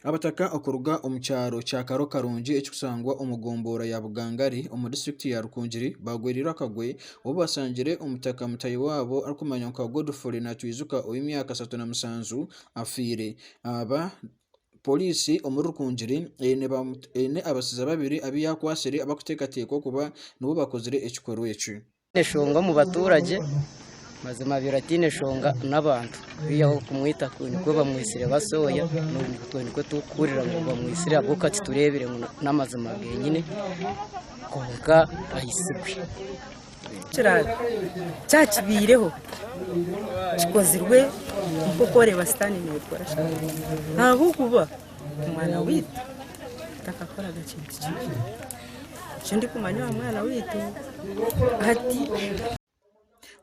Abataka okuruga omu kyaro kya Karo Karungi ekirikushangwa omu gombora ya Bugangari omu disiturikiti ya Rukungiri baagwereirwe akagwe obu bashangire omutaka mutahi waabo arikumanywa nka Godfrey Natwijuka ow'emyaka ashatu na mushanju afiire. Aba Poriisi omuri Rukungiri eine abasizi babiri abu yaakwatsire abarikuteekateekwa kuba nibo baakozire ekikorwa eki. Tihaine shonga omu baturage, mazima abaire ataine shonga n'abantu beihi ahu okumwita nikwo bamwitsire basooya, itwe nikwo turikuhurira ngu bamwitsire ahabw'okuba titureebire ngu n'amazima geenyini kwonka aitsirwe. Kiraabe kyakibaireho kikozirwe nk'oku oreba sitaane neekora ahabw'okuba omwana waitu takakoraga kintu kibi. Nikyo ndikumanya aha mwana waitu hati.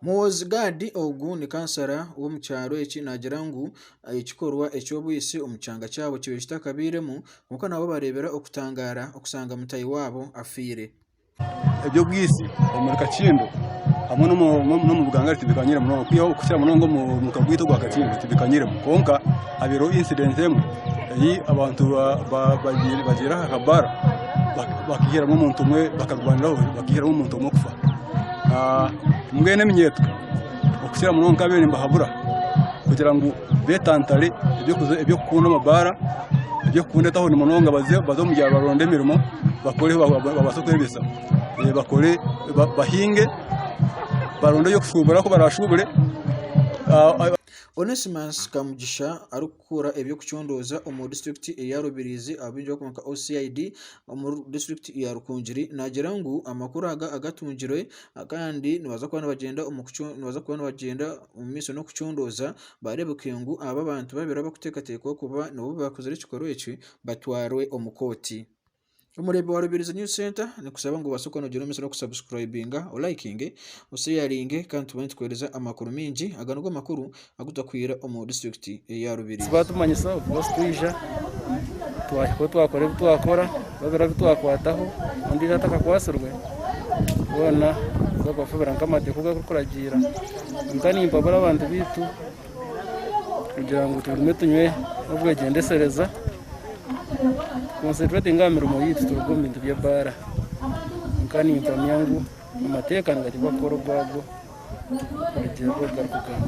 Muhoozi Gad ogu ni kansara w'omu kyaro eki naagira ngu ekikorwa eky'obwisi omu kyanga kyabo kibaire kitakabairemu kwonka nabo bareebera okutangaara kushanga mutahi waabo afiire. eby'obwisi omuri Kakindo hamwe n'omu buganga tibikanyiremu munonga kwihaho kukira munonga omu muka gwaitu ogwa Kakindo tibikanyiremu kwonka habaireho incident emwe ei abantu bagiire aha ka bar bakaihiramu omuntu omwe bakarwaniraho bakaihiramu omuntu omwe kufa mbwenu eminyeeto Okukira munonga nkabaire nimbahabura kugira ngu betantare eby'okukunda amabaara, eby'okukunda etawuni munonga baze omu byaro baronde emirimo bakore ebi bakubaasa kwebyesa. Bakore bahinge, baronde eby'okushuubura ku barashuubure. kukora eby'okucondooza omu disiturikiti eya Rubirizi abu barikweta ngu OCID omu disiturikiti ya Rukungiri naagira ngu amakuru aga agatungirwe kandi nibabaasa kuba nibagyenda omu maisho n'okucondooza baareebeke ngu aba bantu babiri abarikuteekateekwa kuba nibo baakora ekikorwa eki batwarwe omu kooti. Omureeba wa Rubirizi News Centre nikushaba ngu obaase kwongyera omutsyo n'oku subscribinga, olayikinge, osheyaringe kandi tube nitukuhereza amakuru maingi. Aga nigo makuru agutarikwihira omu disiturikiti eya Rubirizi. Batumanyisa oku barikutwija, twahika oku twakora ebi twakora, babura bi twakwataho, ondiijo atakakwatsirwe, boona baza kubafubira nk'amateeka oku garikuragirira. Kwonka nimpabura abantu baitu. kugira ngu tugume tunywe n'obwegyendesereza tukoncentretinge aha mirimo yaitu turuge omu bintu by'ebaara kwonka nimpamya ngu amateeka nigateekwa kukora ogwago kurugiirira oku garikugamba.